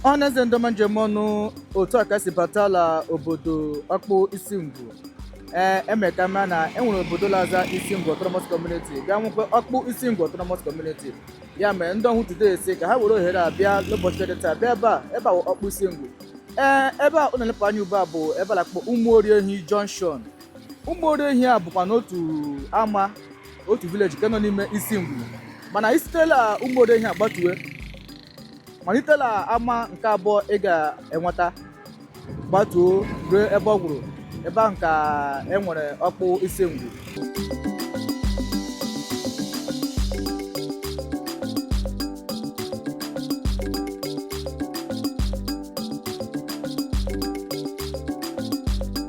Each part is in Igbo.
ọ na-eze ndọma njem ọnụ otu a ka e si bata la obodo ọkpụ isi ngwu ee e mee ka a ma na e nwere obodo la-aza isi ngwu autonomous community bịa nwekwa ọkpụ isi ngwu autonomous community ya mere ndị ọhụhụ today si ka ha were ohere a bịa n'ụbọchị dị taa bịa ebe a ebe a wụ ọkpụ isi ngwu ee ebe a unu na-elepụ anya ugbu a bụ ebe a na-akpọ ụmụoriehi junction ụmụoriehi a bụkwanụ otu ama otu village nke nọ n'ime isi ngwu mana i site la ụmụoriehi a gbatuwe malite la ama nke abụọ ị ga-enweta gbatuo ruo ebe ọ gwụrụ ebe ahụ ka e nwere ọkpụ isi ngwu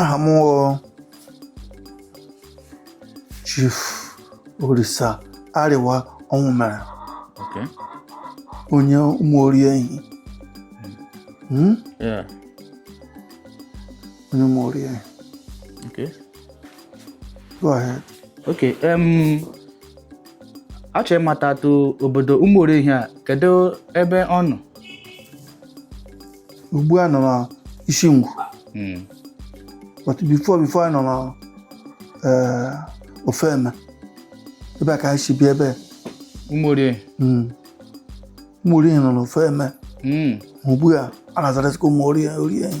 aha m wụ chief orisa arịwa ọnwụmere Okay. onye ụmụoriehi Hmm? Yeah. Onye ụmụoriehi. Okay. Go ahead. Okay. Um, achọrọ ịmatatụ obodo ụmụoriehi a kedu ebe ọ nọ? Ugbu a nọ na isi ngwu. Hmm. But before before anyị nọ na eh, ofeme. Ebe a ka anyị si bịa ebe a. Ụmụoriehi. Mm. Ụmụoriehi nọ na ofeme. Hmm. Ugbu a a na-azarasịkwa ụmụoriehi oriehi.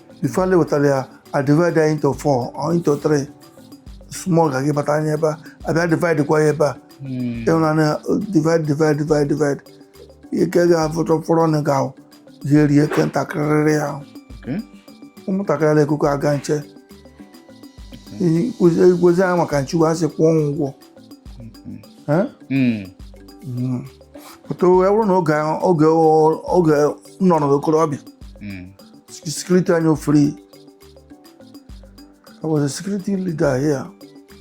before le wetara ya a divide ya into four or into three small ga gị bata anya ebe a a bịa divide kwa ya ebe a hmm. ịhụna na divide divide divide divide ihe ke ga-afụtụ fọrọ na ga ahụ ihe rie ke ntakịrịrị ahụ ụmụntakịrị ala ekuku aga nche igwezi anya maka nche ugbu a sị kwụọ ụgwọ hmm. hmm. but ọ bụrụ na oge oge nọ n'okorobịa Security anyị wụ free. I was a security leader here.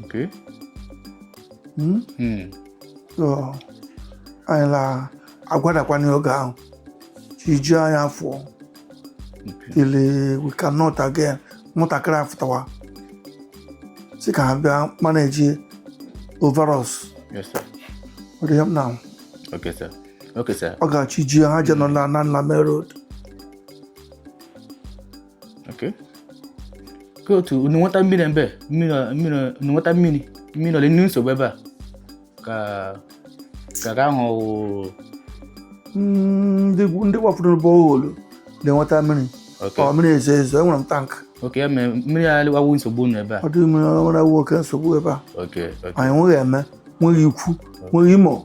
Okay. Hmm? Hmm. So, anyị la agwadakwana oge ahụ chi jie anyị afụọ till we cannot again nwatakịrị afụtawa si ka ha bịa manage over us Yes, sir. ọ dị ya m na Okay, sir. Okay, sir. oge chi ji ha je nọ na na Nlame road okay ka otu unu nweta mmiri ebe mmiri mmiri unu nweta mmiri mmiri ọ la-enye unu nsogbu ebe a ka ka ka ahụ wụ- ndị ndị gbapụrụ borehole na-enweta mmiri okay ọ mmiri ezo ezo enwere m tank okay ya mere mmiri a awụ nsogbu unu ebe a ọ dịghị mmiri ọ na-awụ oke nsogbu ebe a okay okay anyị nweghị Eme nweghị Ikwu nweghị Imo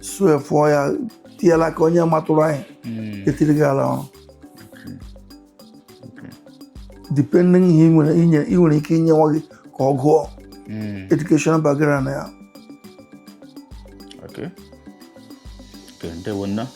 suefụọ ya tiela ka onye matụrụ anyị hmm. etiri gị ala ọrụ depending ihe ị nwere ike inye nwa gị ka ọ gụọ hmm. educational background ya okay. Okay,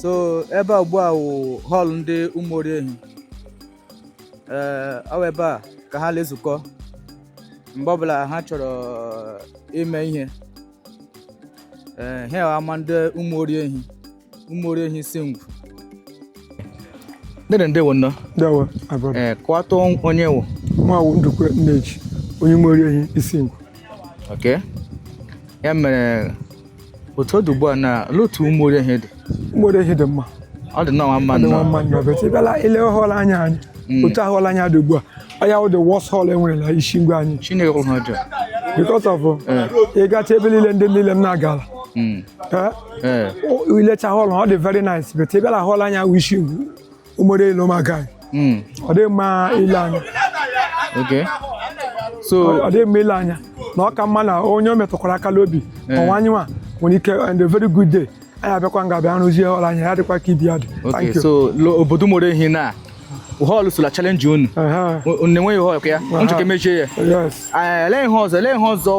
so ebe a ugbu a wụ hall ndị Ụmụoriehi ee ọ bụ ebe a ka ha na-ezukọ mgbe ọbụla ha chọrọ ime ihe ee ha ama ndị Ụmụoriehi Ụmụoriehi Isingwu dede ndewo nnọọ ndewo abụọ ee eh, kọwatụ onye ị wụ mụwa wụ Ndukwe Nneji onye Ụmụoriehi Isingwu ok ya mere otu ọ dị ugbu a na ele otu Ụmụoriehi dị Ụmụoriehi dị mma ọ dị nnọọ mma nnọọ mma nnọọ but ị bịala i lee hall anyị a anya hmm. otu hall anyị a dị ugbu a ọ ya wụ the worst hall e nwere na Isingwu anyị chineke kwụrụ ha ọjọọ because of eh. ị gacha ebe niile ndị niile m na-agala hmm. i lecha hall ọ dị very nice but ị bịala hall anyị a which is Ụmụoriehi ọ maka hmm. ọ dị mma ile anya so ọ dị mma ile anya na ọ ka mma na onye o metụkwara aka n'obi eh. ọnwa anyị nwa nwere ike on a very good day anyị abịakwa nga bịa rụzie hall anyị a ya dịkwa ka ibe ya dị so obodo Ụmụoriehi na hall so la challenge unu na-enweghị hall ya unu chọ ka e mejie ya ele ihe ọzọ ele ihe ọzọ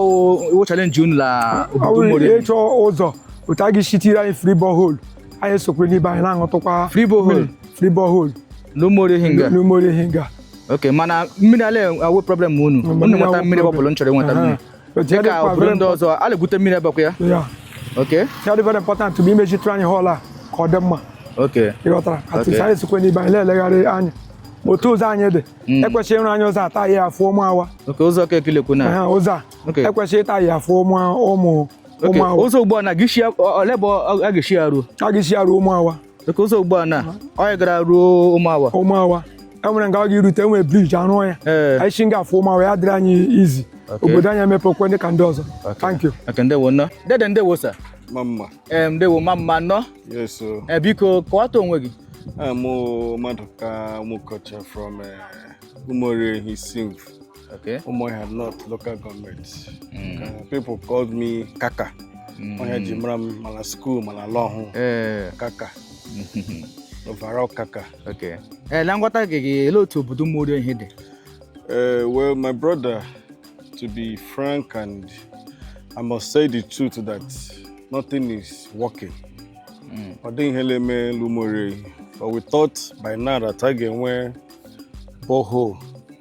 wụ challenge unu la obodo Ụmụoriehi ịchọ ụzọ otu a ga-esi tiri anyị free borehole anyị esokwe n'ibe anyị na-aṅụtụkwa free borehole free borehole n'Ụmụoriehi nga n'Ụmụoriehi nga ok mana mmiri ala awụ problem unu unu nweta mmiri mgbe ọbụla unu chọrọ ịnweta mmiri dịka obodo ndị ọzọ a na-egwute mmiri ebekwa ya okay ihe dị very important bụ imejitụ anyị hall a ka ọ dị mma okay ị ghọtara at least anyị sokwe n'ibe anyị na-elegharị anya otu ụzọ anyị dị hmm. e kwesịrị ịrụ anyị ụzọ a ta ya afụ Ụmụawa ụzọ ke i le-ekwu na ụzọ a e kwesịrị ịta ya afụ Ụmụawa ụzọ ugbu a na a ga-eshi ole ebe a ga-eshi ya ruo a ga-eshi ya ruo Ụmụawa okay ụzọ ugbu a na ọ gara ruo Ụmụawa Ụmụawa e nwere nga ọ ga-erute e nwere bridge a rụọ ya anyị si nga afụ Ụmụawa ya dịrị anyị easy obodo anyị emepekwe dị ka ndị ọzọ thank you ndewo nnọọ dede ndewo sir mma mma ndewo mma mma nnọọ e, biko kọwata onwe gị mụ Madụka Mụkọcha from e, Ụmụoriehi Isingwu Okay. Umuahia North local government. Mm. Uh, people called me Kaka. Mm. Onye ji mara m ma na school ma n'ala Ọhụhụ. Eh. Kaka. Overall Kaka. Okay. Eh, na nghọta gị gị ele otu obodo Ụmụoriehi dị? Eh, well, my brother, to be frank and I must say the truth that nothing is working. Mm. Ọ dịghị ihe la-eme l'Ụmụoriehi. But we thought by now that a ga-enwe borehole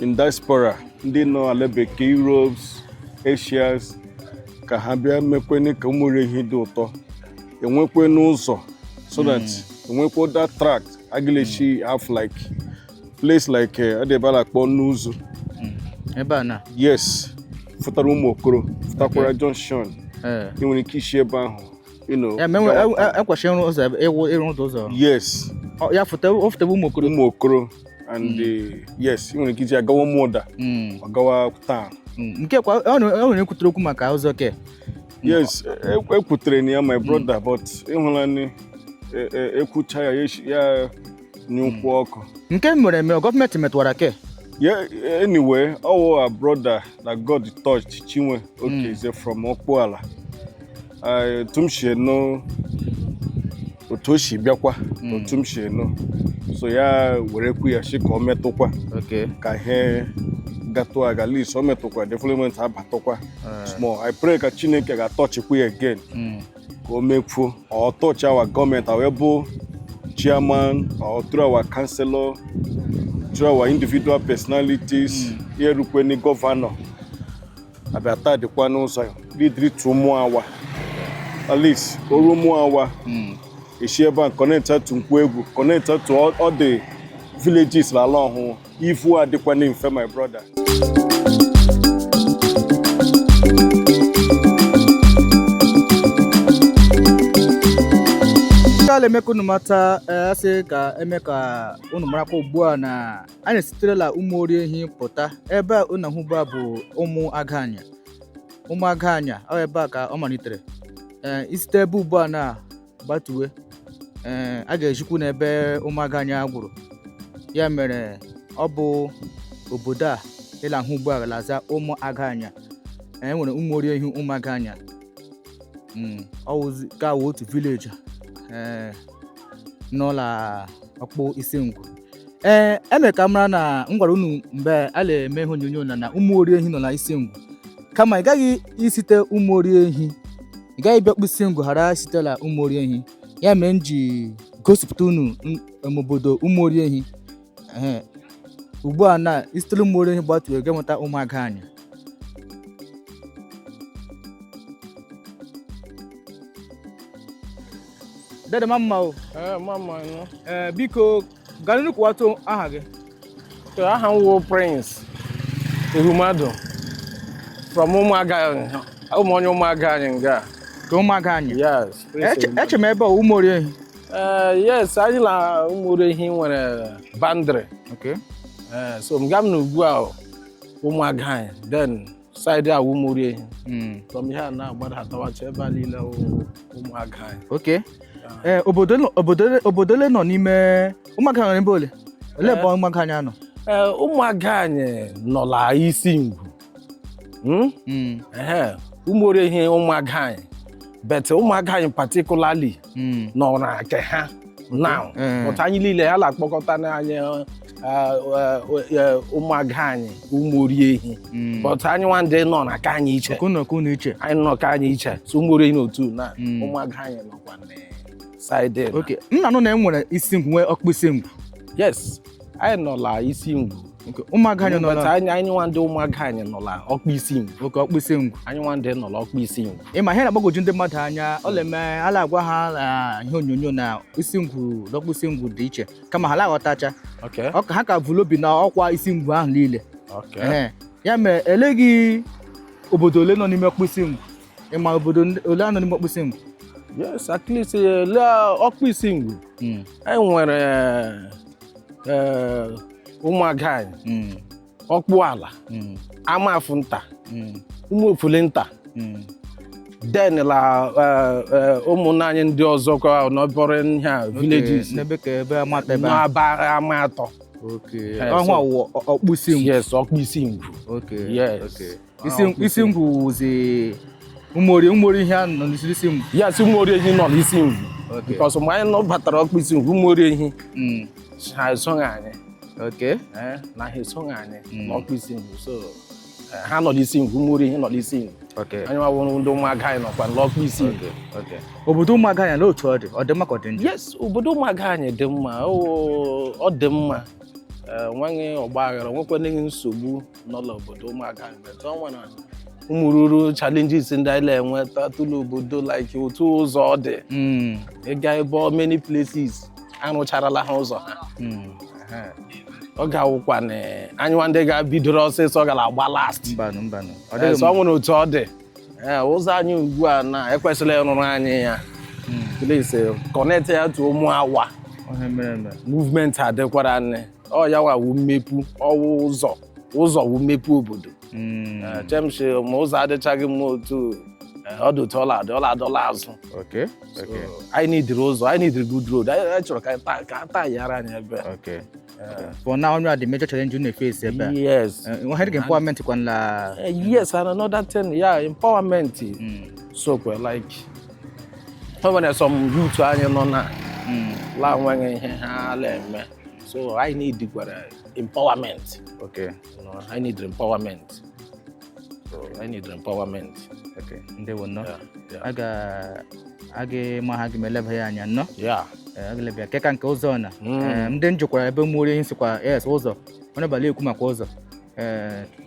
in diaspora ndị nọ ala bekee Europe Asias ka ha bịa mekwenụ ka Ụmụoriehi dị ụtọ e nwekwenụ ụzọ so that hmm. enwekwe that track a ga la-eshi hmm. have like place like eh, adịbala kpọ n'ụzọ hmm. ebe a na yes fụtara ụmụ okoro fụtakwara junction eh. ị nwere ike ishi ebe ahụ you know. Ya menwe gawa- e- e- ekwesị ịrụ ụzọ ebe- ịwụ ịrụ ụzọ ụzọ. yes Ọ- Ya fụta ọ fụta bụ ụmụ okoro. ụmụ okoro and eh, yes ị nwere ike iji ya gawa Ụmụda Mm, ọ gawa town mm. Nke kwa ọ na- ọ nwere ekwutere okwu maka ụzọ ke. yes e- ekwutere na ya my brother but ịhụla ni e- e- ekwucha ya ya eshi- ya anyụkwu ọkụ Nke mere eme gọọmenti metụwara ke. Yeah, anyway, our brother that God touched, Chinwe Okeze from Okpuala, otu m si enu otu o si bịakwa hmm. otu m si enu so ya were ekwu ya sị ka ọ metụkwa ka ihe gatụ aga at least o metụkwa development abatụkwa eh. small i pray ka chineke ga-atọchikwu ya again hmm. ka o mekwuo or touch our government our able chairman or through our councillor, through our individual personalities, mm. ya erukweni governor. a bịa taadịkwanụ ụzọ lidiri to Ụmụawa at least o ru Ụmụawa e shi ebe a kọnekta to Nkwọegwu kọnekta to other villages la ala Ọhụhụ ivu adịkwanụ mfe my brother a la-eme ka unu mata a sị ka e mee ka unu marakwa ugbu a na anyị esiterela Ụmụoriehi pụta ebe a unu na-ahụ ugbu a bụ ụmụ aganya ụmụ aganya ọ ebe a ka ọ malitere ee i site ebe ugbu a na-agbatuwe ee a ga-ezikwu unu ebe ụmụ aganya gwụrụ ya mere ọ bụ obodo a ị la-ahụ ugbu a la-aza ụmụ aganya e nwere Ụmụoriehi ụmụ aganya Mm, ọ wụzi ka wụ otu village ee n'ụlọ ọkpụ isi ngwu ee eme ka mara na m gwara unu mgbe a na-eme ihe onyonyo na na ụmụ ori ehi nọ na isi ngwu kama ị gaghị isite ụmụ ori ehi ị gaghị bịa ọkpụ isi ngwu ghara isite la ụmụ ori ehi ya mere m ji gosipụta unu n- em, obodo ụmụ ori ehi Ehe. ugbu a na isitere ụmụ ori ehi gbatuo ga-enweta ụmụaga anyị dede ma mma o ee ma mma nọ ee eh, biko gaa n'ihu kwuwatụ aha gị aha m wụ prince ehumadu from ụmụaga ụmụ onye ụmụaga anyị nga ka ụmụaga anyị yes eche m ebe a ụmụori ehi ee eh, yes anyị la ụmụori ehi nwere boundary okay eh, so nga m nọ ugbu a ụmụaga anyị then side a wụ ụmụori ehi Mm. from here na-agbada atawacha ebe a niile wụ ụmụaga anyị ok ee obodo nọ- obodo ole- obodo ole nọ n'ime ụmụaga anyị n'ebe ole ole ebe ụmụaga anyị nọ ee ụmụaga anyị nọ la isi ngwu Mm? Mm. Ehe, ụmụori ehi ụmụaga anyị but ụmụaga anyị particularly hmm. nọ na nke ha na hmm. but anyị niile a la-akpọkọta anyị ụmụaga anyị ụmụ ori ehi hmm. but anyị nwa ndị nọ na nke anyị iche anyị nọ nke anyị iche so ụmụ ori ehi n'otu na ụmụaga anyị nọkwa na side m na-anụ na e nwere isi ngwu nwee ọkpụ isi ngwu yes anyị nọ la isi ngwu Okay, ụmụaga anyị nọ But na anyị anyị nwa ndị ụmụaga anyị nọ la ọkpụ isi ngwu okay ọkpụisi ngwu anyị nwa ndị nọ la ọkpụ isi ngwu ị ma ihe na-agbagwoju ndị mmadụ anya ọ na-eme a la-agwa ha na ihe onyonyo na isi ngwu na ọkpụisi ngwu dị iche kama ha la-aghọtacha okay Ọ ka- ha ka vu l'obi na ọkwa isi ngwu ahụ niile okay Ee. ya mere eleghị obodo ole nọ n'ime ọkpụisi ngwu ị ma obodo ole nọ n'ime ọkpụisi ngwu yes at least eh, la ọkpụisi ngwu hmm. anyị nwere eh, ụmụaga anyị hmm. ọkpụ ala hmm. amafụ nta ụmụ ofule nta then la eh, ụmụnna anyị ndị ọzọ kwa neighbouring villages n'aba ama atọ ọhụ ọkpụisi ngwu yes ọkpụisi ngwu yes isi ngwu wụzi umori umori ehi a nọ n'isi isi ngwu yes umori ehi nọ n'isi ngwu because mgbe anyị nọ batara ọkpụ isi ngwu umori ehi hmm. ha esoghị anyị eh, na ha esoghị anyị hmm. n'ọkpụ isi ngwu so eh, ha nọ n'isi ngwu umori ehi nọ n'isi ngwu anyị nwa wụ ndị ụmụaga anyị nọkwa n'ọkpụ isi ngwu obodo ụmụaga anyị n'otu ọ dị ọ dị mma ka ọ dị njọ yes obodo ụmụaga anyị dị mma ọ dị mma Eh, nweghị ọgba aghara nwekwana nsogbu nọ n'obodo ụmụaga anya but o nwere ụmụrụrụ challenges ndị anyị na-enwetatụ l'obodo like otu ụzọ ọ dị hmm. ịga ebe many places arụcharala ha ụzọ ha hmm. ọ ga-awụkwa na anyịwa ndị ga-bidoro ọsịsọ gara agba last so o nwere otu ọ dị ụzọ anyị ugbu a na e kwesịrị ịrụrụ anyị ya hmm. please connect ya to ụmụawa movement adịkwara nne ọ ya wa wụ mmepe ọ wụ ụzọ ụzọ wụ mmepe obodo Mm, Eh, eche m sị ma ụzọ adịchaghị mma otu eh, ọ dị otu ọ la-adị ọ la-adọla azụ okay, okay, anyị needịrị ụzọ anyị needịrị good road anyị anyị chọrọ ka anyị taa- ka a taa yara anyị ebe a. okay. For now, only the major challenge you need to face ebe a. yes Eh, nwa hịrị empowerment kwa nla. Eh, yes and another thing ya empowerment Mm, sokwe like o nwere some youth anyị nọ na mm. la enweghị ihe ha na-eme so anyị needkwara empowerment okay anyị need empowerment so anyị need empowerment okay ndewo nnọọ a ga aga ịma ha gị ma eleba ya anya nnọọ a ga-eleba ya eh, nke ka nke ụzọ na hmm. eh, ndị m jụkwara ebe ụmụoriehi sịkwa yes ụzọ onye ọbụla ekwu maka ụzọ eh,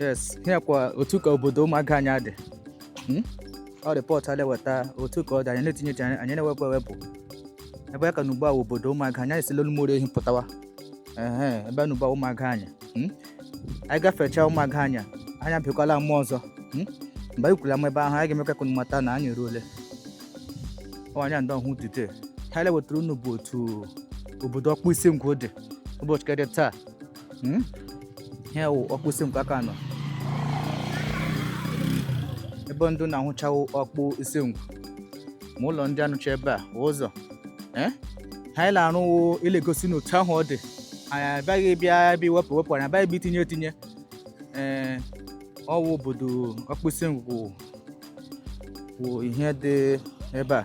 yes ya kwa otu ka obodo ụmụaga anya dị hmm? ọ report a na-eweta otu ka ọ dị anyị na-etinye etinye anyị na-ewepụ ewepụ ebe a ka a nọ ugbu a obodo ụmụaga anya esila l'ụmụoriehi pụtawa ebe a nọ ugbu a ụmụaga anya hmm? anyị gafechaa ụmụaga anya anyị abịakwala ama ọzọ hmm? mgbe anyị ruru ama ebe ahụ anyị ga-emekwa ka unu mata na anyị eruole ọ anyị ndị ọhụhụ dute ha na-ewetara unu bụ otu obodo okpu isingwu dị ụbọchị ke dị taa Hmm? ihe wụ okpu isingwu ka a nọ ebe ndị unu na-ahụcha wụ okpu isingwu ma ụlọ ndị a na-ahụcha ebe a wụ ụzọ ee eh? ihe anyị na-arụ wụ ị na-egosi unu otu ahụ ọ dị anyị abịaghị bịa ebe iwepụ ewepụ anyị abịaghị bịa itinye etinye ee eh, ọ wụ obodo okpu isingwu wụ ihe dị ebe a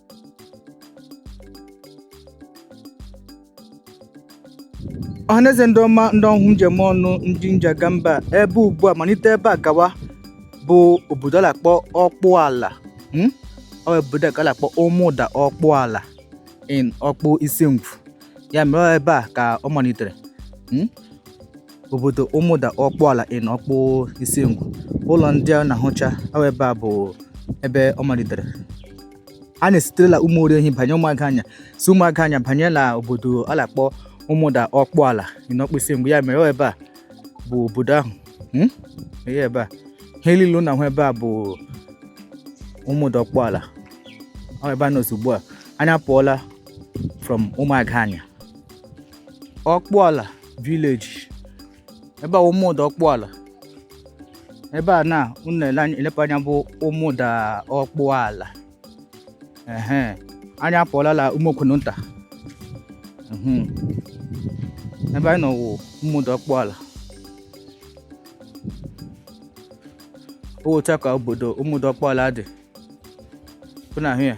ọhaneze ndị ọma ndị ọhụhụ e ji eme ọnụ ndị e ji aga mba ebe ugbu a malite ebe a gawa bụ obodo a na-akpọ ọkpụala hmm? ọ bụ obodo a ka a na-akpọ ụmụda ọkpụala in okpu isingwu ya mere ọ ebe a ka ọ malitere hmm? obodo ụmụda ọkpụala in okpu isingwu ụlọ ndị a na-ahụcha awa ebe a bụ ebe ọ malitere anyị esiterela ụmụoriehi banye ụmụaga anya si ụmụaga anya banye na obodo a na-akpọ ụmụda ọkpụala in okpu isingwu ya mere ọ ebe a bụ obodo ahụ hmm? ihe ebe a ihe niile a na-ahụ ebe a bụ ụmụda ọkpụala ọ ebe a nọ ugbu a anyị apụọla from ụmụaga anya ọkpụala village ebe a Ụmụda Ọkpụala ebe a na unu elepa anya bụ Ụmụda Ọkpụala ehe anyị apụọla la Ụmụokwunu nta mhm. ebe anyị nọ wụ Ụmụda Ọkpụala otu ka obodo Ụmụda Ọkpụala dị unu ahụ ya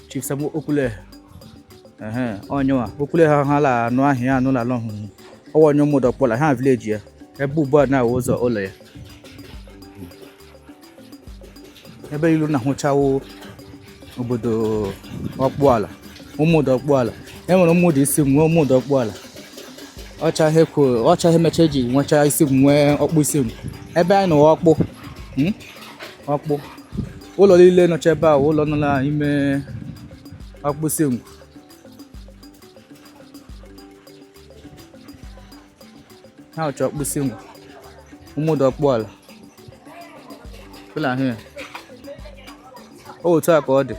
Chief Sam Okule onyewa Okule ha ha la anụ aha ya anụ la ala Ọhụhụ ọ wụ onye Ụmụda Ọkpụala village ya ebe ugbu a na-awụ ụzọ ụlọ ya ebe unu na-ahụcha wụ obodo Ọkpụala Ụmụda Ọkpụala e nwere Ụmụda Isingwu nwee Ụmụda Ọkpụala ọcha ihe kwuo ọcha ihe mecha e ji nwecha Isingwu nwee Ọkpụ Isingwu ebe anyị nọ wụ Ọkpụ hmm? Ọkpụ ụlọ niile nọcha ebe a ụlọ nọ n'ime Ọkpụ Isingwu ha wụcha Ọkpụ Isingwu Ụmụda Ọkpụala fụla ya otu a ka ọ dị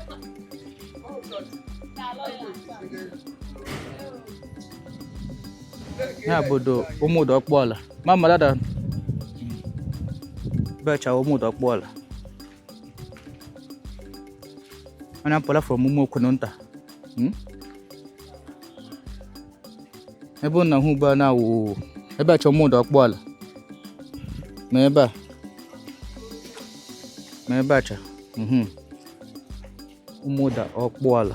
ya obodo Ụmụda Ọkpụala ma mmadụ ada becha Ụmụda Ọkpụala anyị apụla from Ụmụokwunu nta hmm? ebe ụnụ na-ahụ ugbu a na-awụ ebe a cha Ụmụda Ọkpụala ma ebe a ma ebe a cha hmm. Ụmụda Ọkpụala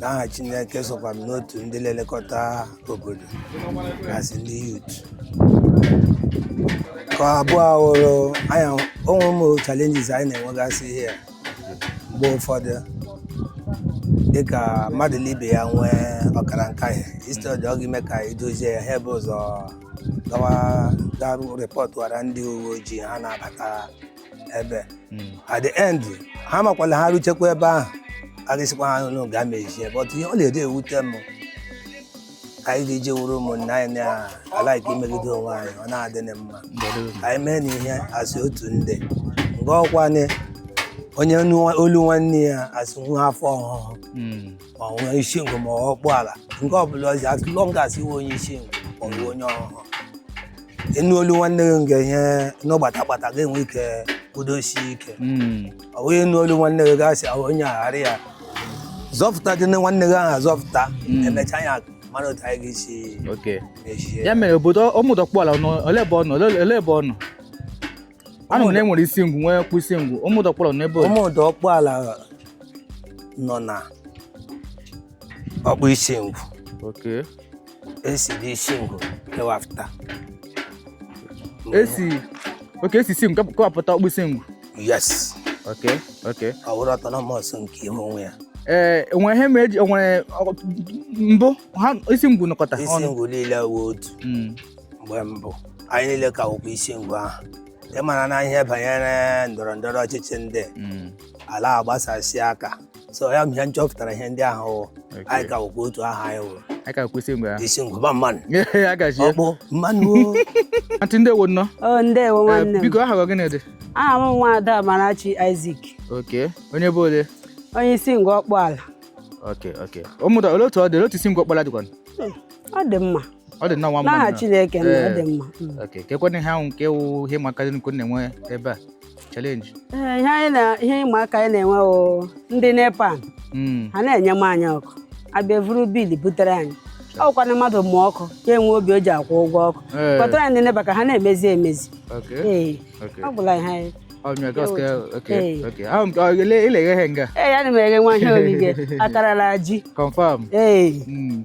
n'aha Chineke sokwa m n'otu ndị na-elekọta obodo gasị ndị youth ka abụọ hụrụ anya onwe ụmụ challenges anyị na-enwegasị ihe mgbe ụfọdụ dịka mmadụ na ibe ya nwee ọkara nkahie instead ọ ga-eme ka e dozie ya ha ebe ụzọ gawa ga rịpọtụwara ndị uwe ojii ha na-abata ebe at the end ha makwala ha ruchekwa ebe ahụ a ga-asịkwa ha n'ụlọ ga mezie but ihe ọ na-adị ewute m ka anyị ga-eji wụrụ ụmụnna anyị na-alike imegide onwe anyị ọ na-adị na mma ka anyị mee na ihe a sị otu ndị nga ọkwanye onye nwa- olu nwanne ya a sị nwa afọ Ọhụhụ ma ọ onye Isingwu ma ọ Ọkpụala nke ọbụla ọzọ as long as ị wụ onye Isingwu ma ọ bụ onye Ọhụhụ ịnụ olu nwanne gị nke ihe n'ọgbata gbata ga-enwe ike kwudosie ike hmm. ọ wụghị ịnụ olu nwanne gị gasị ahụ onye aghara ya zọpụta dị nwanne gị ahụ azọpụta hmm. emecha ya mara otu anyị ga-esi mechie ya mere obodo Ụmụda Ọkpụala ole ebe ọ nọ ole ebe ọ nọ anụ na enwere Isingwu nwee Ọkpụ Isingwu Ụmụda Ọkpụala n'ebe Ụmụda Ọkpụala nọ na Ọkpụ Isingwu okay e si dị Isingwu kewapụta e si okay e si Isingwu kewapụta Ọkpụ Isingwu yes okay okay ọ wụrụ autonomous nke ihe onwe ya ee eh, enwere ihe ma eji enwere mbụ ha Isingwu nọkọta Isingwu niile wụ otu hmm. mgbe mbụ anyị niile ka wụkwa Isingwu ahụ ịmara na ihe banyere ndọrọ ndọrọ ọchịchị ndị hmm. ala agbasasị aka so ya mịa nchọpụtara ihe ndị ahụ wụ anyị ka wụkwa otu ahụ anyị wụrụ anyị ka wụ Isingwu ahụ Isingwu mma mma nụ ya gazie Ọkpụ mma nụ o. antị ndewo nnọ o ndewo Eh, nwanne m biko aha gị gịnị dị aha m nwa ada Amarachi Isaac okay onye ebe ole onye Isingwu Ọkpụala okay okay Ụmụda ole otu ọ dị ole otu Isingwu Ọkpụala dịkwa ọ dị mma ọ dị nnọọ nwa mma n'aha Chineke na ọ Eh. dị mma Mm. okay kekwanụ ihe ahụ nke wụ ihe ịma aka unu na-enwe ebe a challenge ee ihe anyị na ihe ịma aka anyị na-enwe ọ ndị NEPA Mm, ha na-enyema anyị ọkụ abịa vuru bill butere anyị ọ kwa na mmadụ mụọ ọkụ ya enwe obi o ji akwụ ụgwọ ọkụ Ee. kpọtara anyị ndị NEPA ka ha na-emezi emezi okay ee okay ọ gwụla ihe anyị ọ mịa gas ka okay Ee. okay ahụ m ka ị la-eghe ihe nga ee ya ana m eghe nwa ihe oriri akara la ji confirm ee Mm,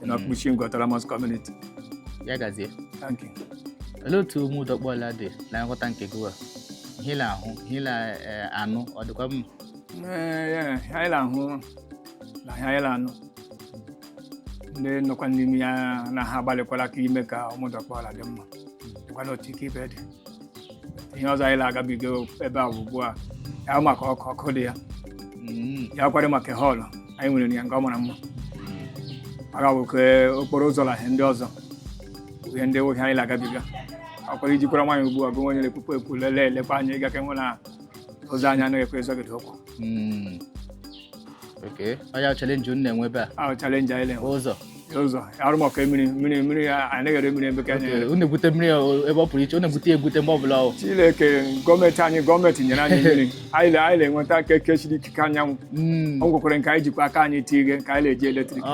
dị na Ọkpụ Isingwu Autonomous Community. ya gazie Thank you. olee otu Ụmụda Ọkpụala dị na nghọta nke gị a ihe ị na-ahụ ihe ị na-anụ ọ dịkwa mma Ee, ya, ihe anyị na-ahụ na ihe anyị na-anụ ndị nọkwa n'ime ya na ha agbalịkwala ka ime ka Ụmụda Ọkpụala dị mma dịkwa n'otu nke ibe dị ihe ọzọ anyị na-agabiga ebe a ugbu a ya maka ọkụ ọkụ dị ya mm. ya kwado maka hall anyị nwere ya nga ọ mara mma maka nwoke okporo ụzọ na ihe ndị ọzọ ihe ndị nwoke anyị na-agabiga akwara ijikwara nwaanyị ugbu a bụ onye na-ekwukwa ekwu lelee elekwa anya ịga ka e nwere ụzọ anya anaghị ekwe ịzọgide ụkwụ mm. olee challenge unu na-enwe ebe a challenge anyị na-enwe ụzọ ụzọ ọ wụrụ maka mmiri mmiri mmiri anaghị ere mmiri ebe ka anyị unu egwute mmiri ebe ọ pụrụ iche unu egwute egwute mgbe ọbụla ọ Chineke gọọmenti anyị gọọmenti nyere anyị mmiri anyị na-enweta aka eke chiri ikike anyanwụ hmm. ọ nwekwara nke anyị jikwa aka anyị tinye nke anyị na-eji eletrik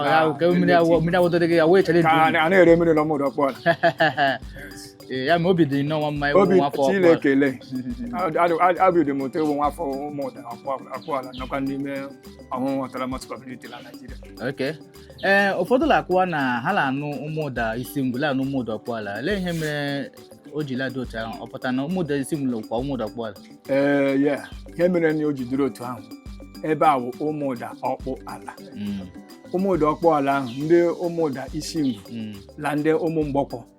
mmiri awụdoro gị ya wee challenge anaghị ere mmiri na Ụmụda Ọkpụ Ee, ya ma obi dị nnọọ nwa mma ịwụ obi nwa afọ ọkpụ a. Chineke lee obi dị m ụtọ ịwụ nwa afọ Ụmụda Ọkpụala nọkwa n'ime Ọhụhụ Autonomous Community na naijiria Okay. ee ụfọdụ na-akụwa na ha na-anụ Ụmụda Isingwu la-anụ Ụmụda Ọkpụala olee ihe mere o ji la-adị otu ahụ ọ pụtara na Ụmụda Isingwu lakwa Ụmụda Ọkpụala ee ya ihe mere na o ji dịrị otu ahụ ebe a wụ Ụmụda Ọkpụala Mm, Ụmụda Ọkpụala ahụ ndị Ụmụda Isingwu mm. na ndị ụmụ mgbọkwọ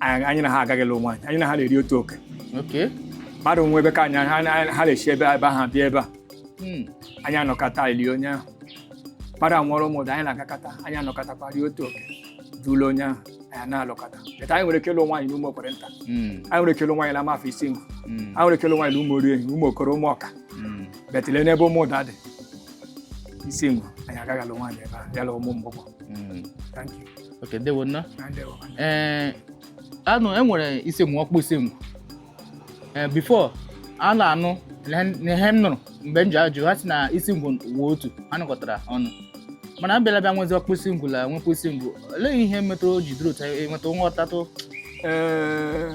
anyị anyị na ha agaghị alụ nwaanyị anyị na ha na-eri otu oke Okay. mmadụ nwụọ ebe ka anyị ha na- ha na-esi ebe ebe ahụ bịa ebe a Hmm. anyị anọkọta lie onye ahụ mmadụ anwụọrọ Ụmụda anyị na-agakọta anyị anọkọtakwa rie otu oke dule onye ahụ anyị na-alụkọta but anyị nwere ike ịlụ nwaanyị n'Ụmụokwerenta Hmm. anyị nwere ike ịlụ nwaanyị n'Amafọ Isingwu Hmm. anyị nwere ike ịlụ nwaanyị n'Ụmụoriehi Ụmụokoro Ụmụọka Hmm. but le n'ebe Ụmụda dị Isingwu anyị agaghị alụ nwaanyị ebe a ya la ụmụ mgbọgbọ Mm. thank you okay ndewo nna na ndewo ee anụ e nwere Isingwu Ọkpụ Isingwu ee before a na-anụ na ihe m nụrụ mgbe m ji ajụ ha sị na Isingwu wụ otu ha nọkọtara ọnụ mana abịala bịa nwezi Ọkpụ Isingwu la nwekwa Isingwu olee ihe metụrụ o ji dịrị otu a, enweta nghọtatụ Ee,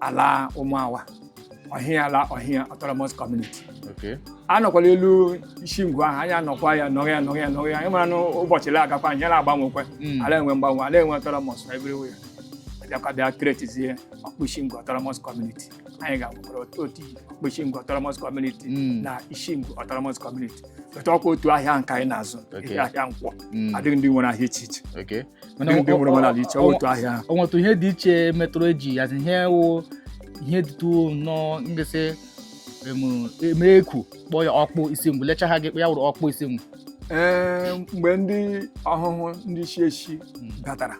ala ụmụawa ọhịa ala ọhịa autonomous community Okay. anọkwala elu Isingwu ahụ anyị anọkwa ya nọrọ ya nọrọ ya nọrọ ya anyị mara na ụbọchị la agakwa ihe na-agbanwekwe Mm. a la-enwe mgbanwe a la-enwe autonomous everywhere bịakwa bịa createzie Ọkpụ Isingwu autonomous community anyị ga-agbakwara otu otu Ọkpụ Isingwu autonomous community Mm. na Isingwu autonomous community but ọkwa otu ahịa nke anyị na-azụ Okay. ahịa nkwọ Mm. adịghị ndị nwere ahịa iche iche Okay. Mana ndị ọ- nwere ọ- mmadụ ala iche ọ- otu ahịa ahụ. o nwetụ ihe dị iche metụrụ eji ya ihe wụ ihe dịtụ nnọọ ngesị emere eku kpọọ ya Ọkpụ Isingwu lecha ha ji kpọọ ya wụrụ Ọkpụ Isingwu Ee, mgbe ndị Ọhụhụ ndị chi echi batara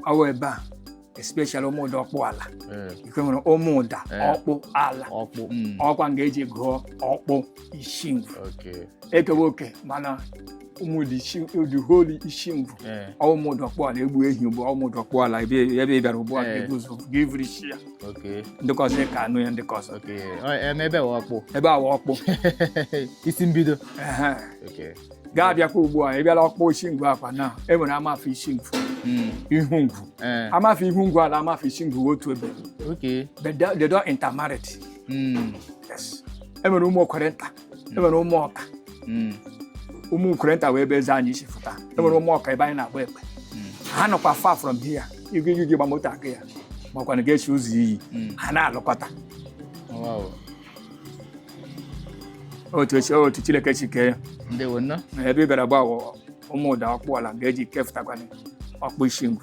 ọ wụ ebe a especially Ụmụda Ọkpụala ee, ikwe nwere Ụmụda Eh. Ọkpụala ọkpụ mm, ọkwa nga eji gụọ Ọkpụ Ishingwu okay e kewe oke mana Ụmụda ishi- the whole Ishingwu ee, ọ Ụmụda Ọkpụala e gbuo ehi ugbu ọ Ụmụda Ọkpụala ebe ebe ị bịara ugbu a Eh. ga-ebu ụzọ gaa vuru isi ya okay ndị ka ọzọ ekee anụ ya ndị ka ọzọ okay Ọ- em, ebe wụ ọkpụ ebe a wụ ọkpụ isi mbido ehe. okay ga-abịakwa ugbu a ị bịala Ọkpụ Isingwu ọkwa na e nwere Amafọ Isingwu hmm. Ihungwu eh. Amafọ Ihungwu la Amafọ Isingwu otu ebe they don't intermarried hmm. e nwere Ụmụokwerenta e nwere Ụmụọka hmm. Ụmụokwerenta wụ ebe eze anyị si fụta e nwere Ụmụọka ebe anyị na-agba ekpe ha nọkwa far from here igwe igwe gba moto aga ya makwa na ga-esi ụzọ iyi ha na-alụkọta otu echi otu Chineke si kee ya ndewo nnọọ na ebe ị gara ugbu a wụ ụmụda ọkpụala ga-eji kefụtakwana ọkpụ isingwu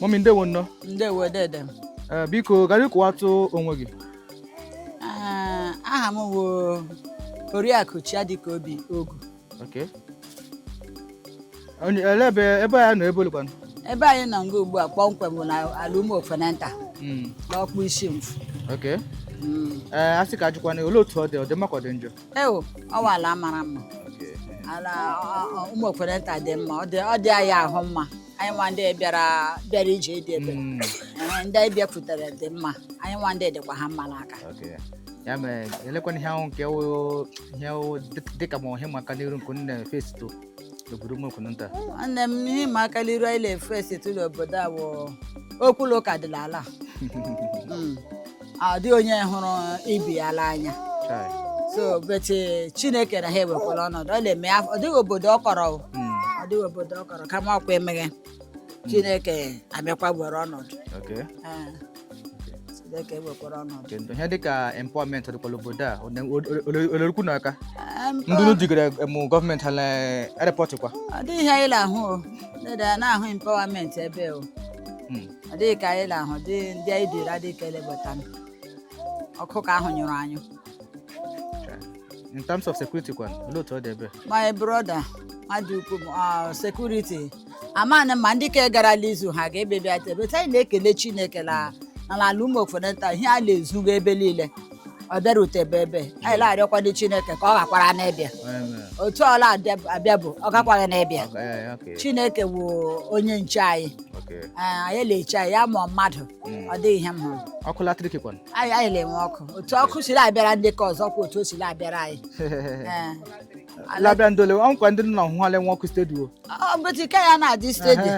mọmi ndewo nnọọ ndewo dede m Eh, biko gara ịkọwatụ onwe gị Ah, aha m wụ oriakụ chiadịkaobi ogu Okay. Onye- ele ebe ebe a nọ ebe olekwanụ ebe anyị nọ nga ugbu a kpọmkwem bụ na ala ụmụ ofenanta Mm, n'ọkpụ isingwu okay. Mm. ee a sị ka a jụkwana olee otu ọ dị ọ dị mma ka ọ dị njọ ewo ọ wụ ala mara mma ala ọ- ọ- ụmụ ofenanta dị mma ọ dị ọ dị anyị ahụ mma anyị nwa ndị bịara bịara ije di ebe Mm, Ee, ndị anyị bịakwutere dị mma anyị nwa ndị dịkwa ha mma n'aka okay. ya mere elekwana ihe ahụ nke wụ ihe wụ dị- dịka ma ihe ịma aka n'iru nke unu na-efesitụ n'obodo ụmụ okwunu nta nwanne m ihe ịma aka n'iru anyị na-efesitụ l'obodo a wụ okwu la ụka dị la ala Mm. ọ dịghị onye hụrụ ibe ya n'anya Chai. so but eh, chineke na ha ewekwala ọnọdụ ọ na-eme ya- ọ dịghị obodo ọ kọrọ o. Mm, ọ dịghị obodo ọ kọrọ kama ọkwa emeghe chineke abịakwa were ọnọdụ okay. Ah, chineke ewekwara ọnọdụ Okay, ndụ. ihe dịka empowerment dịkwa l'obodo a ọ la-erukwa unu aka Ah, mpa- ndị unu jigara mụ gọọmenti ha na-erepọtịkwa ọ dịghị ihe anyị na-ahụ o Ndị na- na-ahụ empowerment ebe o ọ dịghị ka anyị na-ahụ dị ndị anyị dịrị adịghị ka elebata m. ọkụ ka ahụ nyụrụ anyụ in terms of security kwan olee otu ọ dị ebe my brother mmadụ ukwu m, ah, security amanị ma ndị ka garala izu ha ga-ebebi ata ebe anyị na-ekele chineke na na ala ụmụ okwunu nta ihe a na-ezuga ebe niile ọ bịarutebe ebe anyị na-arịọkwanụ Chineke ka ọ ghakwara ịbịa otu ọla abịa bụ ọ gakwaghị n'ịbịa Chineke wụ onye nche anyị anyị na-eche anyị ya mụọ mmadụ hmm. ọ dịghị ihe m hụrụ ọkụ latrik kwana anyị anyị na-enwe ọkụ otu ọkụ siri abịara ndị nke ọzọ kwa otu o siri abịara anyị la-abịa ndole ọ nkwa ndị nna ọhụhụ a la-enwe ọkụ stedi o mbụti ka ya na-adị stedi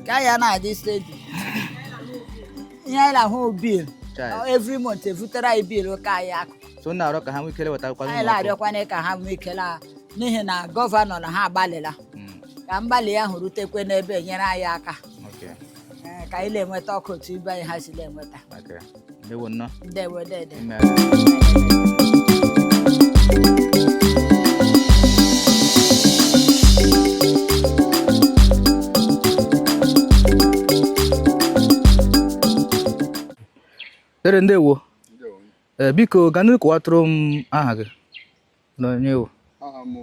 ka ya na-adị stedi ihe anyị na-ahụ bil every month evutere anyị bil ọkụ anyị akwụọ so na-arịọ ka ha nwee ike la-ewetakwa anyị na-arịọkwana ka ha nwee ike la n'ihi na gọvanọ na ha agbalịla hmm. ka mgbalị ya ahụ rutekwe n'ebe e nyere anyị aka ka anyị na-enweta ọkụ otu ibe anyị ha si na-enweta ndewo dede Amen. Dere ndewo ee biko ka ndị kọwatụrụ m aha gị na onye ị wụ aha m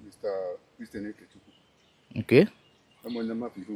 Mr. Christian Ekechukwu nke ama onye Amafọ Ihu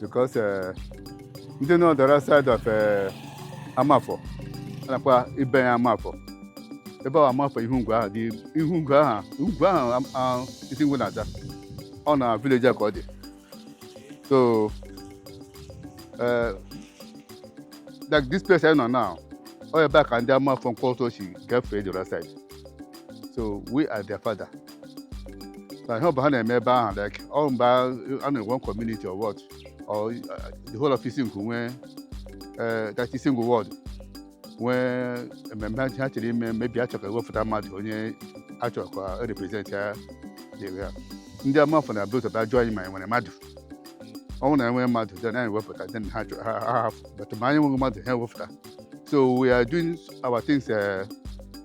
because eh, ndị nọ the right side of eh, Amafọ a na-akpọ ebe a Amafọ ebe ahụ Amafọ Ihungwu ahụ dị Ihungwu ahụ ugwu ahụ am- ahụ Isingwu na-aza ọ na village a ka ọ dị so eh, like this place anyị nọ now ọ ebe a ka ndị Amafọ Nkwọtọ si gafee the right side so we are their father na ihe ọbụla ha na-eme ebe ahụ like ọ mgbe a na-enwe community or ward or uh, the whole of Isingwu nwee eh, that Isingwu ward nwee ememme ha chọrọ ime maybe a chọọ ka e wepụta mmadụ onye a chọrọ ka e represent ya dịrị ya ndị Amafọ na-ebu ụzọ bịa jụọ anyị ma anyị nwere mmadụ ọ wụrụ na e nwee mmadụ then anyị wepụta then ha jụ- ha ha hafụ but ma anyị nweghị mmadụ ha ewepụta so we are doing our things eh,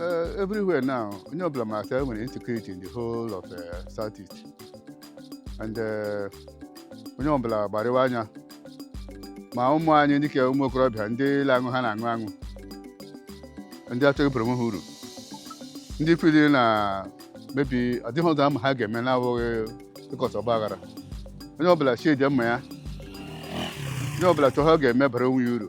uh, everywhere now, onye ọbụla ma sị e nwere insecurity in the whole of uh, South East. And uh, onye ọbụla gbarịwa anya ma ụmụ anyị dịka ụmụ okorobịa ndị ile aṅụ ha na-aṅụ aṅụ ndị achọghị ịbara onwe ha uru ndị feel na maybe adịghị ụzọ ama ha ga-eme na-abụghị ịkọta ọgba aghara onye ọbụla sheathe mma ya onye ọbụla chọọ ihe ọ ga-eme bara onwe ya uru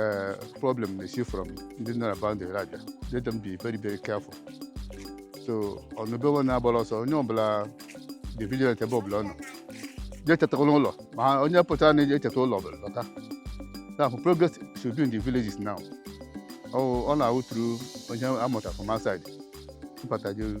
uh, problem na-esi from ndị nọ na boundary abịa let them be very very careful so o nweghị ebe anyị na-agbara ọsọ onye ọbụla dị vigilant ebe ọbụla ọ nọ jee chetakwa n'ụlọ ma ha- onye pụtara n'ezi echeta ụlọ ọbụla lọta now for progress should be in the villages now ọ ọ na-awụ through onye amụta from outside ịbata jee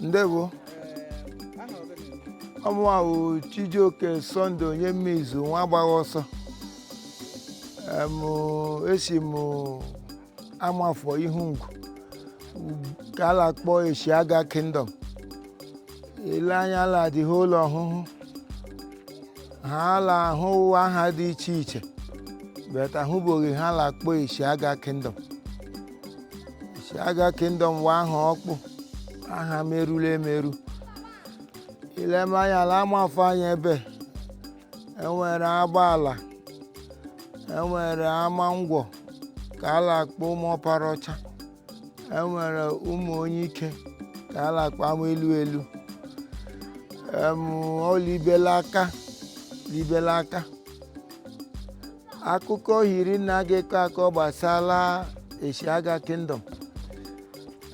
ndewo ọ mụwa wụ Chijioke Sunday onye mmeizu nwa agbagha ọsọ Em, esi m Amafọ Ihungwu ka a na-akpọ Eshiaga Kingdom e lee anya la the whole Ọhụhụ ha la ahụwa aha dị iche iche but ahụbeghị ha la akpọ Eshiaga Kingdom Eshiaga Kingdom wụ aha ọkpụ aha merụla emerụ e lema anya la Amafọ anya ebe enwere agbaala enwere ama ngwọ ka a na-akpọ ụmụ ọpara ọcha enwere ụmụ onye ike ka a na-akpọ ama elu elu em, ọ libela aka libela aka akụkọ hiri nne a ga-akọ akọ gbasara Eshiaga Kingdom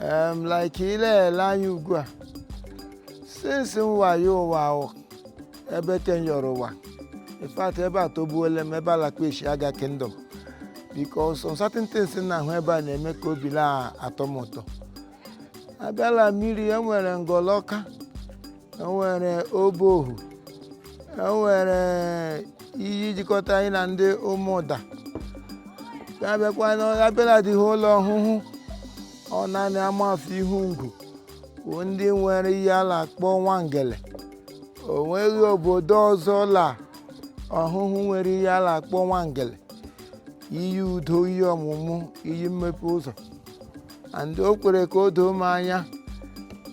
em, like i lee anya ugbu a since mụwa yọ ụwa ahụ ebe ke m yọrọ ụwa in fact ebe a atọgbuola m ebe a la-akpọ Eshiaga Kingdom because some certain things m na-ahụ ebe a na-eme ka obi na-atọ m ụtọ a bịa la mmiri enwere ngọlọka enwere obohu enwere iyi jikọta anyị na ndị Ụmụda a bịa la the whole Ọhụhụ ọ naanị Amafọ Ihungwu bụ ndị nwere ihe a na-akpọ nwangele o nweghị obodo ọzọ la Ọhụhụ nwere ihe a na-akpọ nwangele iyi udo iyi ọmụmụ iyi mmepe ụzọ and o kwere ka o doo m anya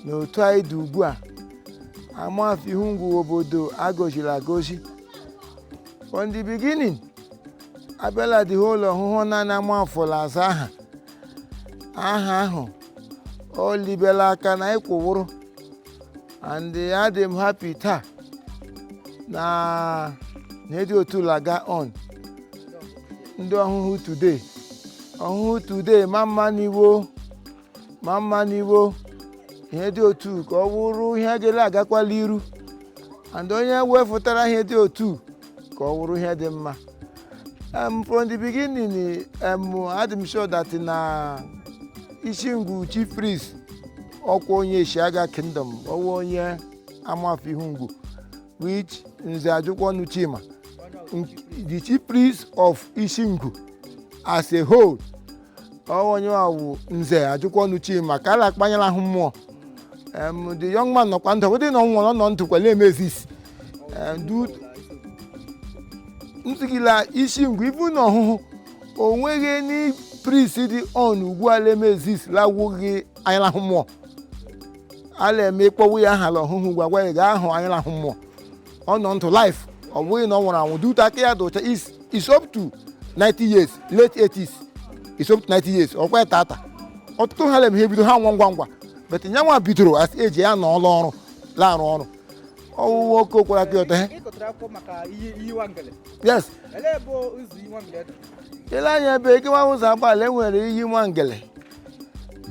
na otu anyị dị ugbu a Amafọ Ihungwu obodo a gọziri agọzi from the beginning a bịa la the whole Ọhụhụ naanị Amafọ la-aza aha aha ahụ ọ libela aka na anyị kwụwụrụ and adị m happy taa na ihe dị otu a la-aga on ndị Ọhụhụ today Ọhụhụ today mma mma ni wo mma mma ni wo ihe dị otu ka ọ wụrụ ihe ga la-agakwa l'iru and onye wefụtara ihe dị otu ka ọ wụrụ ihe dị mma um, from the beginning um, adị m sure that na Ishingwu chief priest ọkwa onye Eshiaga Kingdom ọ wụ onye Amafọ Ihungwu which Nze Ajụkwọnụ Chima the chief priest of Ishingwu as a whole ọ wụ onye a wụ Nze Ajụkwọnụ Chima ka a na-akpọ Anya la-ahụ mmụọ Em, the young man nọkwa ndụ ọ bụdị na ọ nwụrụ ọ nọ ndụ kwa na-eme exist ntụgila Ishingwu even na Ọhụhụ o nweghị any priest dị on ugbu a na-eme exist la-awụghị Anya la-ahụ mmụọ a na-eme ị kpọwa ya aha la Ọhụhụ gwa gwa ya gaa hụ Anya la-ahụ mmụọ ọ nọ ndụ life ọ bụghị na ọ nwụrụ anwụ dute aka ya dị ụcha is is up to 90 years late 80s is up to 90 years ọkwa ya tata ọtụtụ ha la-eme ha ebido ha nwa ngwa ngwa but ya nwa bidoro as eji ya na ọrụ ọrụ la-arụ ọrụ ọ wụ nwoke okwara aka ya ọtọ he yes i lee anya ebe e kewa ụzọ agbaala enwere iyi nwangele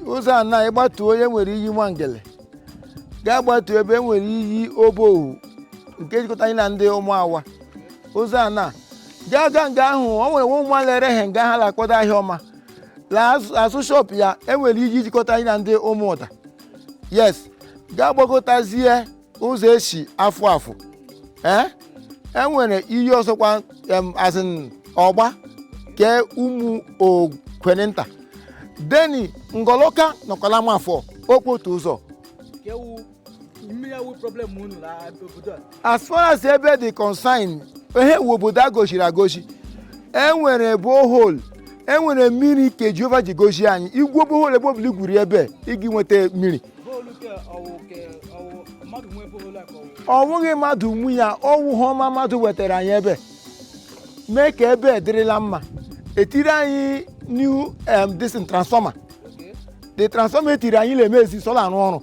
ụzọ ana ị gbatuo e nwere iyi nwangele gaa gbatuo ebe e nwere iyi obohu nke jikọta anyị na ndị ụmụawa ụzọ ana gaa gaa nga ahụ o nwere nwa ụmụ a la-ere he nga ha la-akpọta ahịa ọma la azụ- azụ shọp ya e nwere iyi jikọta anyị na ndị ụmụụda yes gaa gbagotazie ụzọ e si afụ afụ ee e nwere iyi ọzọkwa em, as in ọgba ke ụmụ okwenenta then ngọlọka nọkwa la amafọ okpotu ụzọ ke wụ mmiri awụ problem unu na obodo a as far as ebe dị concern here wụ obodo a gọziri agọzi e nwere borehole e nwere mmiri ke jehova ji gozie anyị i gwuo borehole ebe ọbụla i gwuri ebe ị gị nweta mmiri ọ wụghị mmadụ nwu ya ọ wụ he ọma mmadụ wetara anyị ebe mee ka ebe dịrị la mma e tiiri anyị new um, this thing, transformer the transformer e tiiri anyị na-emezi so ọ la-arụ ọrụ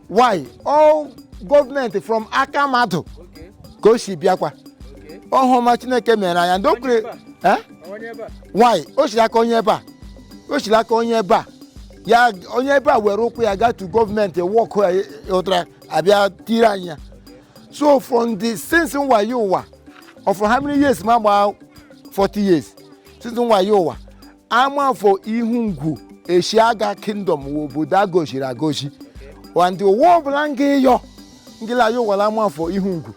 why ọ wụ gọọmenti from aka mmadụ ka o si bịakwa ọ wụ he ọma chineke mere anyị ndị o kwere eh? why o siri aka onye ebe a o siri aka onye ebe a ya onye ebe a were ụkwụ ya gaa to gọọmenti work ya outara abịa tiiri anyị ya so from the since mụwa yọ ụwa or for how many years m agbaa 40 years since mụwa yọ ụwa amafọ ihungwu eshiaga kingdom wụ obodo a gọziri agọzi and ụwa ọbụla m ga-ịyọ m gị la-ayọ ụwa la amafọ ihungwu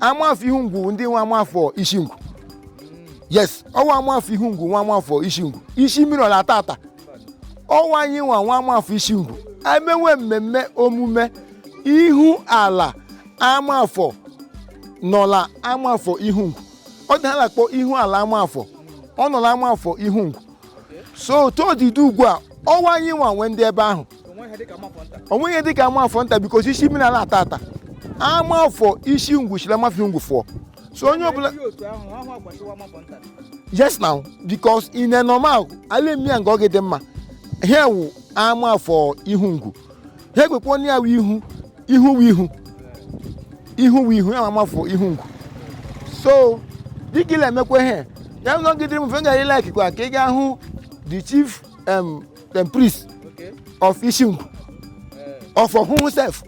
amafọ ihungwu ndị nwe amafọ isingwu yes ọ wụ amafọ ihungwu nwe amafọ isingwu isi mmiri ọ la-ata ata ọ wụ anyị nwa nwe amafọ isingwu e mewe mmemme omume ihu ala amafọ nọ la amafọ ihungwu ọ dị he a la-akpọ ihu ala amafọ ọ nọ la amafọ ihungwu so todidi ugbu a ọ wụ anyị nwa nwe ndị ebe ahụ o nweghị ihe dịka amafọ nta because isi mmiri ala-ata ata amafọ isingwu shi la amafọ ihungwu fụọ so onye ọbụla yes now because in a normal a la-eme ya nga ọ gị-adị mma here wụ amafọ ihungwu ha ekwekwa onye ya wụ ihu ihu wụ ihu ihu wụ ihu ya ma amafọ ihungwu so dịka ị na-emekwa ihe ya nọgidere m fe gara ị likekwa ka ị ga hụ the chief um, dem priest of isingwu of ọhụhụ sef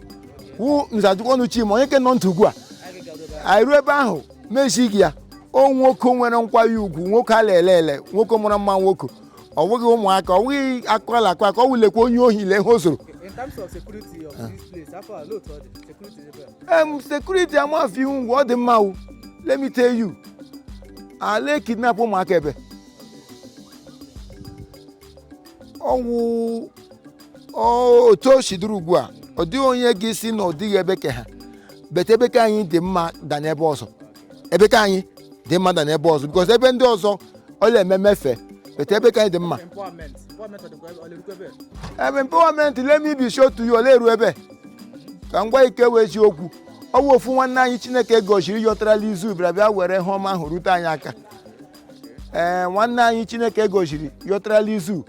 wụ nze j ụkọnụ chima onye nke nọ ntị ugbu a anyị ruo ebe ahụ m ezi gị ya ọ nwoke nwere nkwanye ugwu nwoke a la-ele ele nwoke mara mma nwoke ọ bụghị ụmụaka ọ bụghị akụkọ a la-akọ akọ ọ wụ lekwa onye ohi lee ihe o zoro In terms of security of this place, how far low to the security level? em security amafọ ihungwu ọ dị mma o let me tell you ala kidnap ụmụaka ebe ọwụ ọ- otu o si dịrị ugbu a ọ dịghị onye ga-asị na ọ dịghị ebe ka ha better ebe ka anyị dị mma than ebe ọzọ ebe ka anyị dị mma than ebe ọzọ because ebe ndị ọzọ ọ la-eme mefe better ebe ka anyị dị mma ebe empowerment let me be sure to you o le-eru ebe ka ngwa ike wee ji okwu ọ wụ ofu nwanne anyị chineke gọziri yọtarala izu bịara bịa were ihe ọma ahụ rute anyị aka ee nwanne anyị chineke gọziri yọtarala izu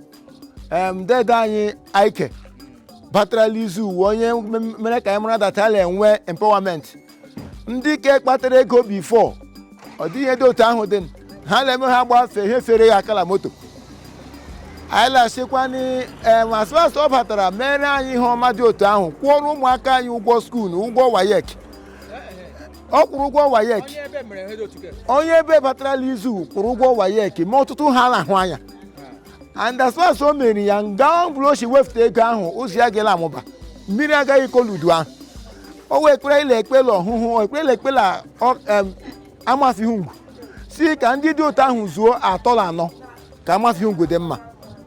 em dede anyị aike batarala izu wụ onye m- mere ka anyị mara that a la-enwe empowerment ndị ke kpatara ego before ọ dịghị ihe dị otu ahụ dị ha na-eme ha gbafe ihe fere gị aka la moto anyị lasịkwanị em as soon as ọ batara mere anyị ihe ọma dị otu ahụ kwụọrọ ụmụaka anyị ụgwọ school ụgwọ waec ọ kwụrụ ụgwọ waec onye ebe batarala izu kwụrụ ụgwọ waec ma ọtụtụ ihe a na-ahụ anya and as far as o mere ya nga ọ bụla o si wefụta ego ahụ ụzọ ya ga la-amụba mmiri agaghị ịkọ l'udu ahụ ọ wụ ekpere a la-ekpe la ọhụhụ ọ ekpere a la-ekpe la amafọ ihungwu si ka ndị dị otu ahụ zuo atọ na anọ ka amafọ ihungwu dị mma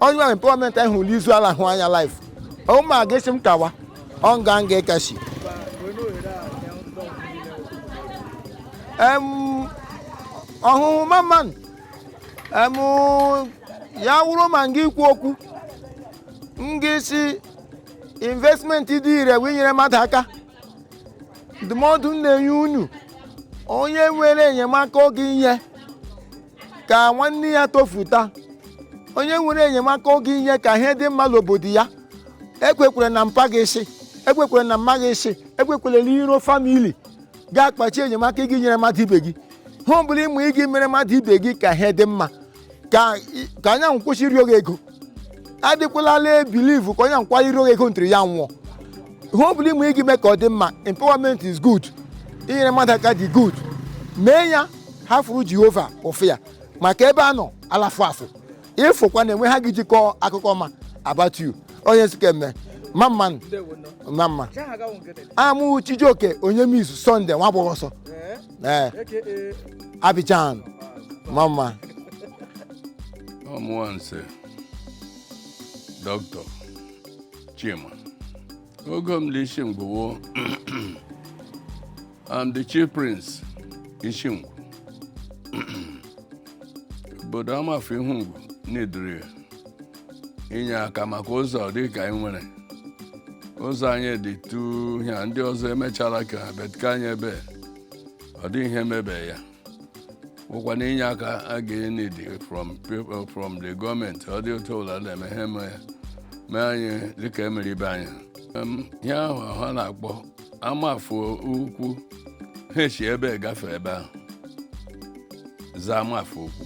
onye ahụ wụ empowerment anyị hụ l'izu a la-ahụ anya live ụma ga-asị m kawa ọ nga m ga-akasị ọhụhụ mamma nụ ya wụrụ ma m ga-ekwu okwu m ga-asị investment dị ire wụ inyere mmadụ aka ndụmọdụ m na-enye unu onye nwere enyemaka ọ ga-enye ka nwanne ya tofuta onye nwere enyemaka ọ ga-enye ka ihe dị mma n'obodo ya ekwekwala na mpa gị sị ekwekwala na mma gị sị ekwekwala na iro family ga-akpachi enyemaka ị ga-enyere mmadụ ibe gị ihe ọ bụla ị ma ị ga-emere mmadụ ibe gị ka ihe dị mma ka ka onye ahụ kwụsị ịrịọ gị ego adịkwala la-ebelieve ka onye nkwa rịọ gị ego until ya nwụọ ihe ọ bụla ị ma ị ga-eme ka ọ dị mma empowerment is good inyere mmadụ aka dị good mee ya ha fụrụ jehova ụfụ ya maka ebe a nọ a la-afụ afụ ị fụkwa na enwe ihe a ga-eji kọọ akụkọ ọma about you onye m sị ka e mee mma mma mma mma am chijioke onyemizu sunday nwa gbọghọ ọsọ ee abidjan mama ọmụwa nse dọkịta chima ọgọ m l'isingwu am the chief prince isingwu obodo amafọ ihungwu n'idiri ya inye aka maka ụzọ dị ka anyị nwere ụzọ anyị dị tu ihe a ndị ọzọ emechala ka ha but ka anyị ebe ọ dị ihe mebe ya wụkwanụ inye aka a ga-enidi from people from the gọọmenti ọ dị otu ụlọ na-eme ha eme ya mee anyị dịka emere ibe anyị Em, ihe ahụ ha na-akpọ amafọ ukwu ha eshi ebe gafe ebe ahụ za amafọ ukwu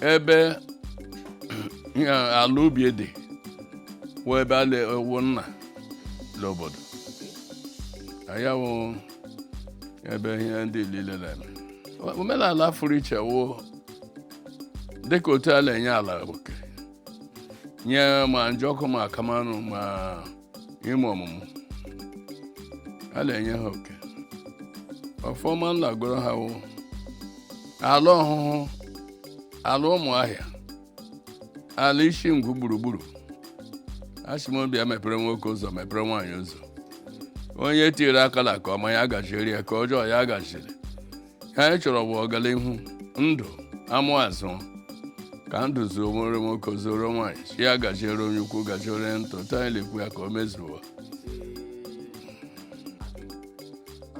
ebe ala ubi dị wụ ebe a na-ewu nna n'obodo ya wụ ebe ihe ndị niile na-eme omenala fụrụ iche wụ dịka otu a na-enye ala oke nye ma njọkụ ma kamanụ ma ime ọmụmụ a na-enye ha oke ọfọma nna goro ha wụ ala ọhụhụ ala ụmụahịa ala isingwu gburugburu asị m ọ bịa mepere nwoke ụzọ mepere nwaanyị ụzọ onye tinyere aka na ka ọma ya gachiri ya ka ọjọọ ya gachiri ihe anyị chọrọ bụ ọganihu ndụ amụ azụ ka ndụ zuoro nwoke zuoro nwaanyị chi ya gajiere onye ukwu gajiere onye nta otu anyị na-ekwu ya ka o mezuo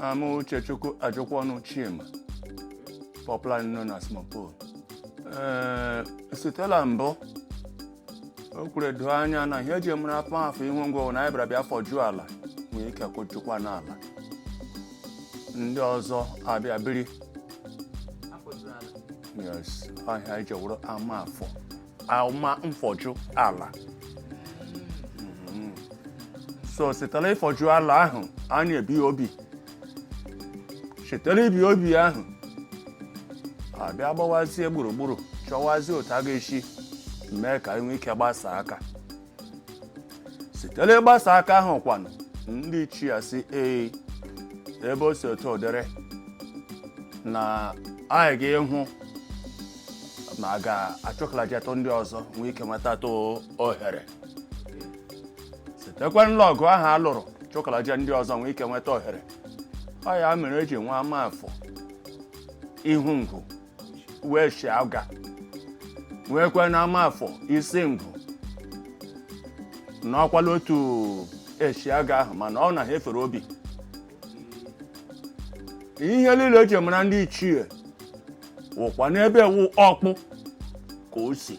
I am uchechukwu ajụkwa ọnụ chima popularly known as mopo ee sitela mbụ o kwuru doo anya na ihe eji mara amafọ ihungwu na anyị bịara bịa fọjuo ala nwee ike kụjukwa n'ala ndị ọzọ abịa biri yes ihe eji wụrụ ama afọ ama mfọju ala Mhm. so sitela ịfọju ala ahụ anyị ebie obi sitela ibi obi ahụ abịa gbawazie gburugburu chọwazie otu a ga-esi mee ka anyị nwee ike gbasa aka sitela ịgbasa aka ahụ kwanụ ndị ichie sị ee ebe o si otu ọ dịrị na anyị ga-ịhụ ma a ga-achụkalajetụ ndị ọzọ nwee ike nwetatụ ohere sitekwa la ọgụ ahụ a lụrụ chụkalaje ndị ọzọ nwee ike nweta ohere ọ ya mere eji nwee amafọ ihungwu wee shi aga nweekwa na amafọ isingwu n'ọkwala otu eshi aga ahụ mana ọ na ha efere obi ihe niile eji mara ndị ichie wụkwa n'ebe wụ ọkpụ cause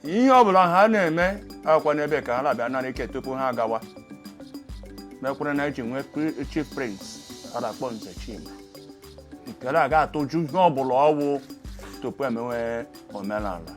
ihe ọbụla ha na-eme akwa n'ebe ka ha na-abịa nara ike tupu ha agawa mekwara na eji nwee pri- chief priest a na-akpọ nze chima nke na-aga atụju ihe ọbụla ọwụ tupu emewe omenala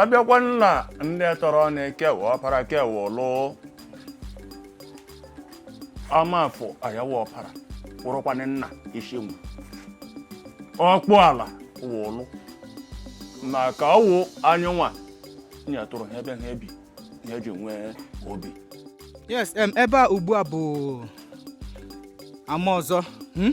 abịakwa na ndị tọrọ na-ekewa ọpara kewa ụlụ amafọ ya wụ ọpara wụrụkwanụ nna isingwu ọkpụ ala wụ ụlụ maka ọ wụ anyị nwa nyetụrụ ha ebe ha ebi ihe eji nwee obi yes em ebe a ugbu a bụ ama ọzọ hmm?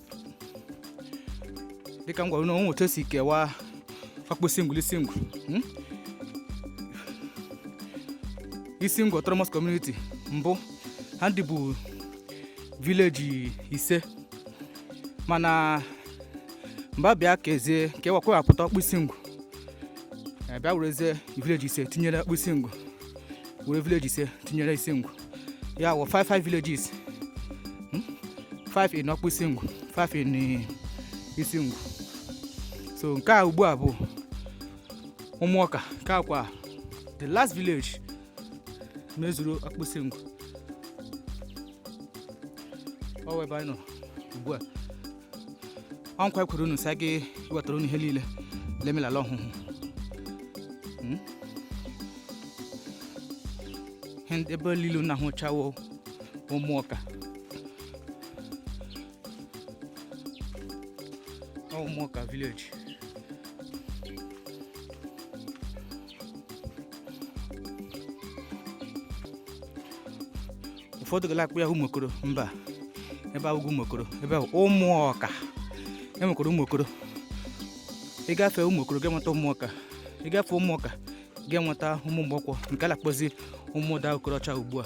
dịka m gwara unu onwe otu esi kewaa ọkpụ isingwu la isingwu hmm? isingwu autonomous community mbụ ha ndị bụ village ise mana mgbe abịa kezie kewa kewapụta ọkpụ isingwu bịa werezie village ise tinyere ọkpụ isingwu were village ise tinyere isingwu ya wụ 5 5 villages 5 hmm? in ọkpụ isingwu 5 in eh, isingwu so nke a ugbu a bụ ụmụọka nke a kwa the last village mezuru ọkpụ isingwu ọ wụ ebe anyị nọ ugbu a ọ nkwa ekwere unu sị a ga-ewetara unu ihe niile la-eme l'ala ọhụhụ Hmm? Ihe ndị- ebe niile unu na-ahụcha wụ ụmụọka Ọ ụmụọka village ụfọdụ gala akpọ ya ụmụokoro mba ebe a awụghị ụmụokoro ebe a wụ ụmụọka enwekwara ụmụokoro ịgafe ụmụokoro ga-enweta ụmụọka ịgafe ụmụọka ga-enweta ụmụ mgbọkwọ nke a na-akpọzi ụmụda okorocha ugbu a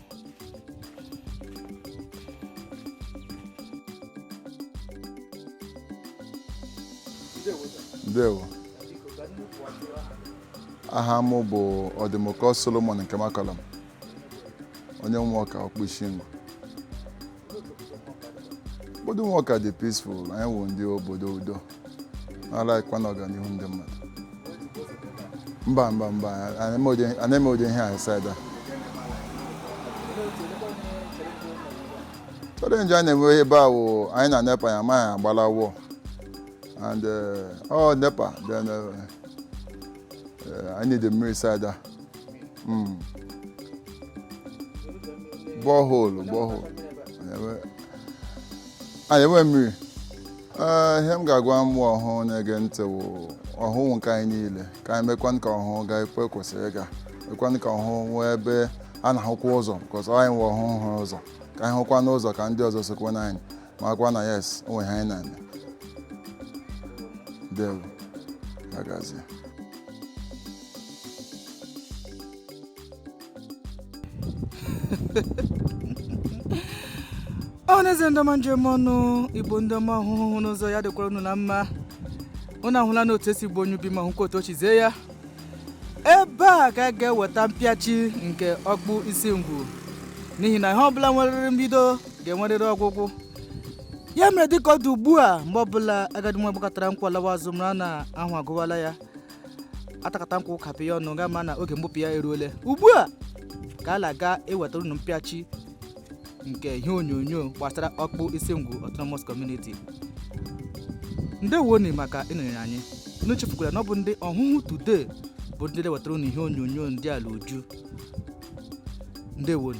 ndewo aha m bụ ọdịmụkọ solomon nkemakọlam onye ụmụọka ọkpụ isingwu obodo ụmụọka dị peaceful anyị wụ ndị obodo udo na-alaghịkwa na ọganihu ndị mmadụ mba mba mba anaghị eme ụdị ihe a side a challenge anyị na-enwe ebe a wụ anyị na nepa ya amaghị agbala wọ and ọ nepa then anyị need mmiri side a mm. borehole borehole anyị enwee mmiri Ee, ihe m ga-agwa ụmụ ọhụhụ na-ege ntị wụ ọhụhụ wụ nke anyị niile ka anyị mekwan ka ọhụhụ gaa ekwe kwesịrị ịga mekwan ka ọhụhụ nwee ebe a na-ahụkwa ụzọ because anyị nwe ọhụhụ hụrụ ụzọ ka anyị hụkwan ụzọ ka ndị ọzọ sokwan anyị makwa na yes o nwe ihe anyị na-eme ndewo agazie ọha na eze ndị ọma njem ọnụ igbo ndị ọma ọhụhụ hụ n'ụzọ ya dịkwara unu na mma unu ahụla na otu e si gbuo onye ubi ma hụkwa otu o si zie ya ebe a ka a ga-eweta mpịachi nke okpu isingwu n'ihi na ihe ọbụla nwerere mbido ga-enwerịrị ọgwụgwụ ya mere dịka ọ dị ugbu a mgbe ọbụla agadi nwa gbakatara nkwa alawa azụ mara na ahụ agụwala ya atakata nkwụ kapị ya ọnụ ga-ama na oge mgbupụ ya eruole ugbu a ka a na-aga iwetara unu mpịachi nke ihe onyonyo gbasara okpu isingwu autonomous community ndewoni maka ịnọnyere anyị unu echefukwala na ọ bụ ndị ọhụhụ today bụ ndị na-ewetara unu ihe onyonyo ndị a la uju ndewoni